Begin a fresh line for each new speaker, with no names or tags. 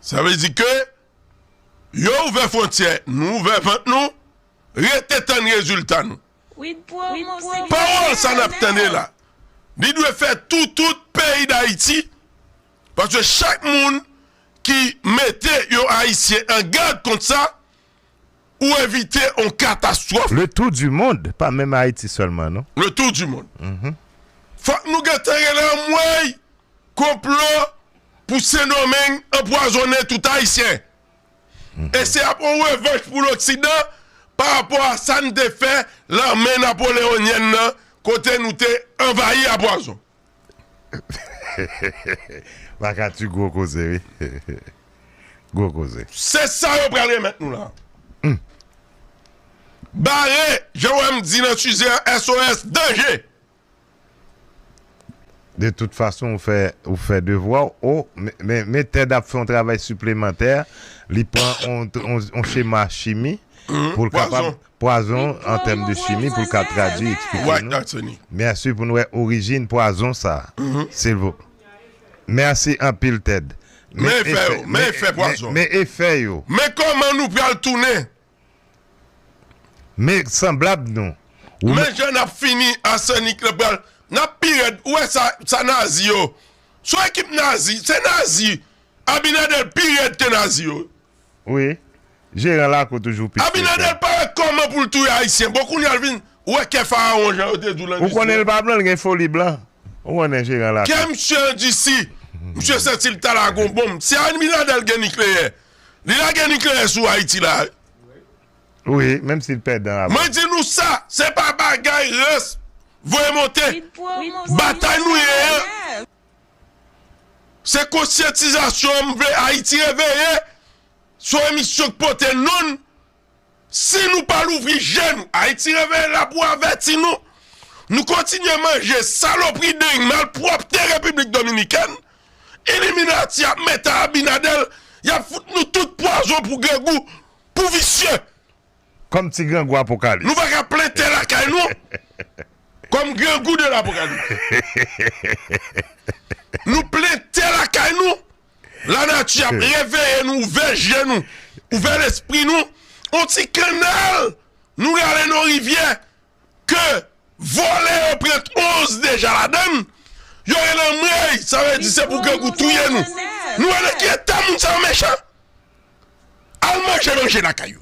Sa vle di ke yo ouvè frontyè, nou ouvè vant nou, rete tann rezilta nou. Pawòl sa nap tande la, li dwe fè tou tout peyi Dayiti, paske chak moun ki mete yon Ayisyen an gad kont sa, ou evite on katastwòf. Le tour du monde
pa menm Ayiti sèlman non. Le tour du monde.
Fòk nou gentan rele anmwey konplo pou Sendomeng anpwazonnen tout Ayisyen. E se ap on revanch pou loksidan pa rapò a sa n te fè lame napoleonyèn nan kote nou te anvayi a pwazon.
Pakaty gwo koze wi gwo koze. Se sa yo pral
remèt nou la. Bare jan wèm di nan size an SOS danje.
De tout fason ou fè devwa w oh men Ted ap fè yon travay siplemantè li pran yon chema chimi pou l kapab Pwazon an tèm de chimi pou l ka tradwi eksplike nou Merci pou n wè orijin pwazon sa silvoup Merci anpil Ted Men efè yo
Men efè pwazon Men efè yo
Men kòman nou pral
tounen
Men sanblab nou Men jan nap
fini Arsenic lan pral Nap pi rèd Ou wè sa nazi yo Son ekip nazi Se nazi Abinader pi rèd ke nazi yo wi. wi
jeran lakou toujou pi spécial. Abinader pa wè kòman
poul touye ayisyen bon kounyal vin wè kè farawon jan yo te diw lan Ou konnen l pa blan l gen
foli blan Ou konnen jeran lakou. Kè misye andisi
misye santi l ta lage yon bonm si abinader gen nikleyè li lage nikleyè sou ayiti la wi. Wi
menm si l pèdan avèl. Mwen di nou sa se
pa bagay rans voye monte batay nou ye an. Se konsyantizasyon an m vle Ayiti reveye son emisyon k pote non l si nou pa louvri je nou Ayiti reveye la pou avèti nou nou kontinye manje salopri deny malpwòpte repiblik dominikèn iliminati ap meta abinadèl y ap fout nou tout pwazon pou grangou pou visye. Kòm
ti grangou apokalis. Nou pa ka plen tè lakay
nou. Kòm grangou de lapokalis. Nou plen tè lakay nou. Lanati ap reveye nou ouvè je nou. Ouvè lespri nou. On ti kannal nou rale non rivyè. ke vòlè yo pran 11 deja ladann yo rele anmweyy sa vle di se pou grangou touye nou nou wè nan ki eta moun sa yo mechan al manje manje lakay yo.